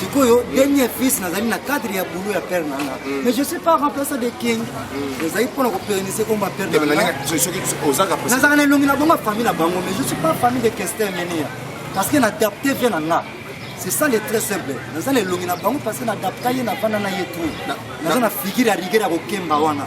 sikoyo dernier fils nazali na cadre ya boulot ya père nanga mm. mais je suis pas remplaçant de king mm. ezali mpona kopérenise oyo ba père nazalaka na elongi na bango famille na bango mais je suis pas famille de kestin menia parce que na adapte vie na nga c'est ça le très simple naza na elongi na bango parce que na adapta ye na vanda na ye tout naza na figure ya rigueur ya kokemba wana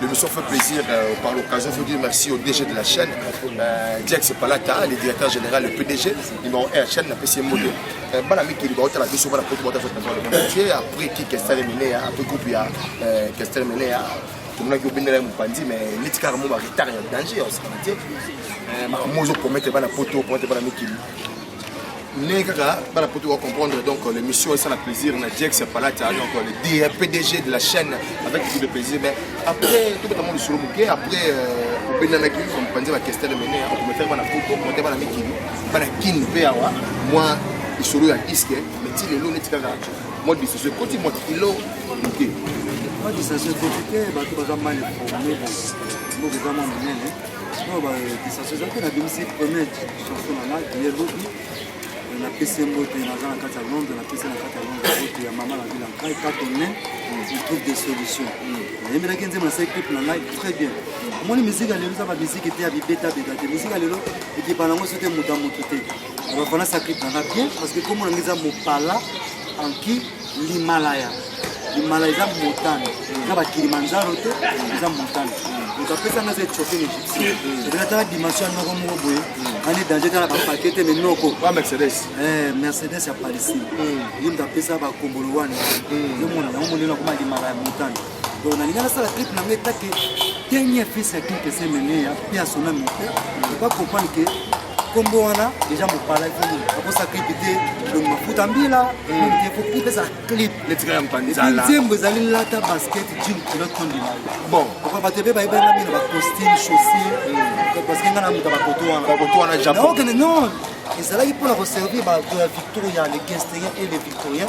L'émission fait plaisir euh, par l'occasion. Je vous dis merci au DG de la chaîne, euh, Jack Sepalata, le directeur général, le PDG, numéro 1 chaîne, la PCM Modo. Euh, bana miki liba otala biso bana poto bota fete bana matière après qui kestel mené après groupe ya euh, kestel mené tomonaki obendela ya mopanzi mais neti kaka mo baretard ya danger ya osakana te makambo ozokomete bana poto okomete bana mikili ndenge kaka bana poto ba comprendre donc euh, l'émission esala plaisir na jex ya palata donc euh, le d pdg de la chaîne avec beaucoup de plaisir mais après tobeta mwa lisolo moke après euh, obendanaki kompanzi bakestel mene akomefere bana poto kote bana mikili bana kin mpe awa mwa lisolo ya diske mais ti lelo neti kaka mwa disese koti mwa kilo moke mwa disese koti te bato baza mal informe boza mwa monene oyo badisese eza mpe na bimisi premier chanson na ngai ye lobi napesi mbote naza na kati ya londre napesi na kati ya londre mbote ya mama na vila nkai kato ne trouve des solutions nayembelaki nzembo na seki na ngai très bien omoni miziki ya lelo eza bamiziki te ya bibetabeta te miziki ya lelo ekipa nango so te moto ya moto te bafana sakripe na ngai bien parce que komona ngai eza mopala anki limalaya limalaya eza motane eza bakilimanjaro te eza motane moto apesa nga eza etiope na egyptien epena tala dimension ya noko moko boye ani danger tala bapake te me noko mercedes eh, mercedes ya palestine ye moto apesa bakombolo wana yomona yango monene akoma limalaya motane donc nalinga nasala clip na ngai etake dernier fils ya clip esemeneya mpe ya sona mote ba comprendre ke nkombo wana deja mopala ifoni akosa clip te donc mafuta mbila te fo clip ezala clip nzembo ezali lata basket jim kilo tondima bon bato mpe bayebani ngai na bacostume chaussure parce que ngai na moto bakoto wana bakoto wana japon non ezalaki mpo na koservir bato ya victoria le gesteriens et le victorien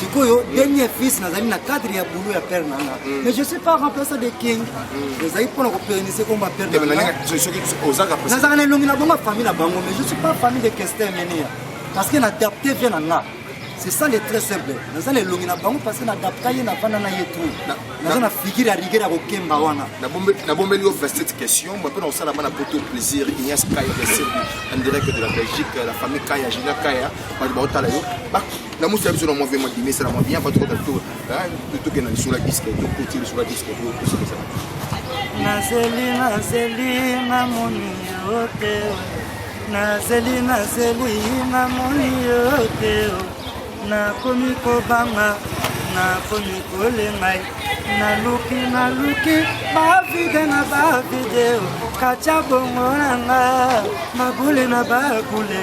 sikoyo dernier fils nazali na cadre ya boulot ya père nanga mm. mais je suis pas remplaçant de king mm. ezali mpona kopérenise komba père nazalaka na elongi na bongo famille na bango mais je suis pas famille de kestin menia parce que na adapte vie na nga c'est ça le très simple naza na elongi na bango parce que nadapta ye navanda na ye tout naza na figure ya rigueur ya kokemba wana nabombeli yo 27 question moi mpe na kosala bana poto plaisir ignace kaya ya serbi en direct de la belgique la famille kaya général kaya bato baotala yo lamusi ya biso na mwa vema dimesala mwa bien bato kota tokenda lisolo ya diske tokoti lisolo ya diske tosekesa nazeli nazeli namoni yo te nazeli nazeli namoni yo te nakomi kobanga nakomi kolengai naluki naluki bavide na bavideo katya bongo na nga mabule na bakule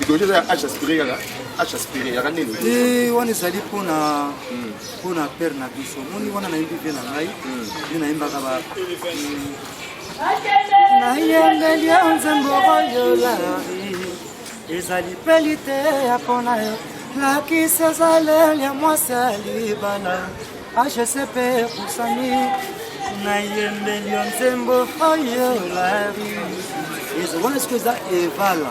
Idole eza ya Acha Spire kaka Acha Spire yaka nini? Eh wana ezali mpo na hmm. mpo na père na biso moni wana nayembi mpe na ngai hmm. nde nayembaka ba hmm. nayengeli ya nzembo oyo lari ezali mpe liteya mpo na yo lakisa ezaleli ya mwasi ya libala hcp epusani nayembeli yo nzembo oyo lari wana sikoyo eza evala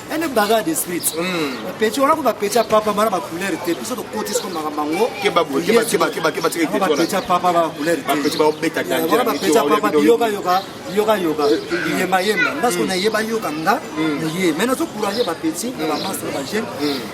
ene bagarre de street bapeti wana ko bapeti ya papa bana bacouleur te biso tokoti siko makambo yango bapeti ya papa bana bacouleur tewana bapeti ya papa biyokayoka biyokayoka biyembayemba nga siko nayebayoka nga naye mai nazocourage bapeti na bamastre bajeune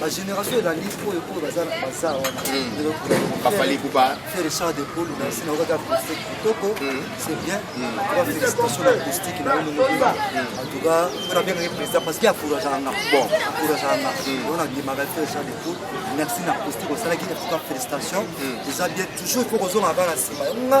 ba génération elandi oyo oyo baza na baza wana bafali kuba faire richard de paul na sina okaka acoustique kitoko c'est bien ba félicitation na acoustique na yo nongola en tout cas on a bien gagné président parce qu'il a courage à nga bon courage à nga on a bien marqué faire richard de paul merci na acoustique osalaki en tout cas félicitations déjà bien toujours faut kozonga bana sima nga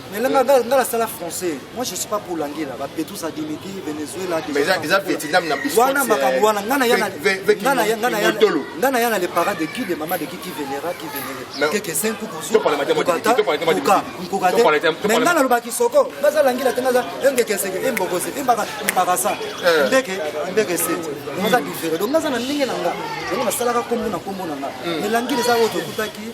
Mais là, nga nga la sala français. Moi je suis pas pour l'angela. Ba Petrus a dimiti Venezuela. Mais ça ça Vietnam na biso. Wana makambo wana ngana yana ngana yana ngana yana ngana yana les parents de qui de maman de qui qui vénéra qui vénéré. Keke sen ku kuzu. Topa la matière modi. Topa la matière modi. Nkuka te. Mais ngana loba kisoko. Baza l'angela te ngaza enge keseke emboko se embaka embaka sa. Eh. Ndeke ndeke se. Ngaza différent. Donc ngaza na ndenge na nga. Donc na salaka kombo na kombo na nga. Hmm. Mais l'angela za oto kutaki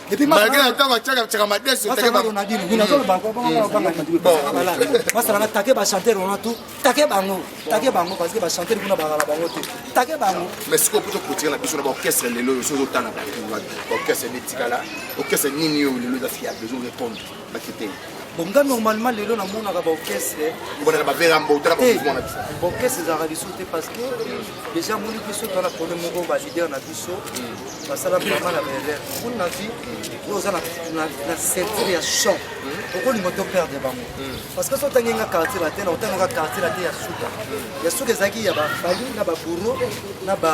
malgré na ntango atiaka tiaka madese basalaka take bachanteur wana tu take bango take bango parce que bachanteur kuna bakala bango te take bango mais sikoyo poto kotika na biso na baorchestre lelo oyo soki ozotana baorchestre nde etikala orchestre nini oyo lelo eza fiable ezo répondre bon nga normalement lelo namonaka baorchestre bona na bavera mbota na bamouvement na biso baorchestre ezalaka lisusu te parce que déjà moni biso toza na problème moko baleader na biso basala vraiment na baerreur moni na vie oyo oza na centre ya champ okolinga to perdre bango parce que so otangi nga quartier la te na otangi nga quartier la te ya suka ya suka ezalaki ya bafali na baburo na ba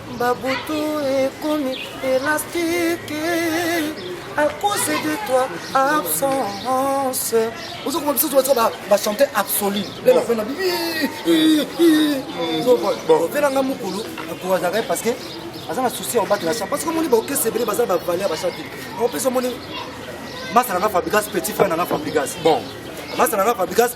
Ba butu ekomi elastique à cause de toi absence ozo koma biso toza ba ba chanter absolu le na fena ovela nga mukulu akoazaka ye parce que aza na souci ya obatela champ parce que omoni baokese ebele baza ba valeur ba chanter opesa omoni masala na fabrigas petit frère na na fabrigas bon masala na fabrigas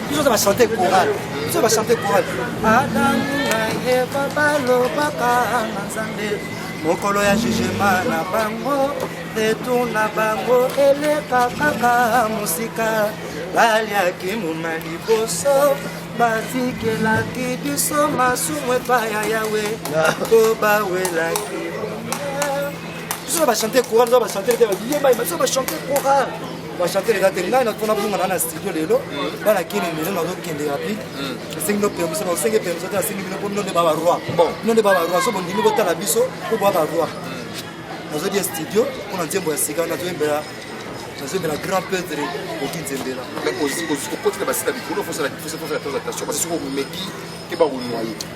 biso ba chanter chorale biso ba chanter chorale adamu na eva balobaka na nzambe mokolo ya jugema na bango retour na bango eleka kaka mosika baliaki muna liboso batikelaki biso masumu epai ya yawe mpo bawelaki biso bachante coral biso bachante te biso bachante coral ba chanteur eza te ngai na tona bunga na na studio lelo bana kini lelo na zokende ya pli esengi no pembe soba osenge pembe sote asengi bino po bino nde ba ba roi bon bino nde ba ba roi so bondimi botala biso po bwa ba roi nazodi ya studio mpo na nzembo ya sika nazoyembela nazobela grand peutre oki nzembela okoti na basita likolo fosala attention parce que soki omeki te bakonwa ye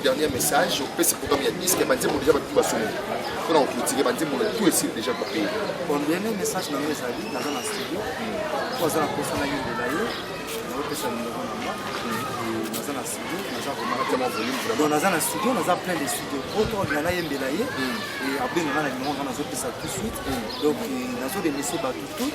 Dernier message, opesi programme ya disque banzembo deja batu basolo mpo na kokultike banzembo na tout esili deja kopeye bon dernier message na yo ezali naza na studio mpo aza na mposa na yondela ye naopesa numero na nga naza na studio naza komaaadon naza na studio naza plein de studio oto na nayembela ye abenga nga na numero nga nazopesa tout suite donc nazodemese bato tout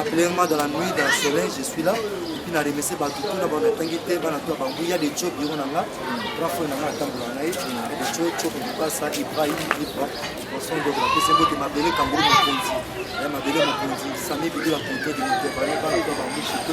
Appelez-moi dans la nuit, dans le soleil, je suis là. Et puis, na remercier Batutu, na bana tangite, bana tua bangu, il y a des chobs, il y en a, trois fois, il y en a, tant qu'on a, il y a des chobs, chobs, il y a ça, il y a, il y a, poisson de la pese mbote mabele kangulu mokonzi ya mabele mokonzi sami bidi bakonto de moto ebale bana tua bangu chito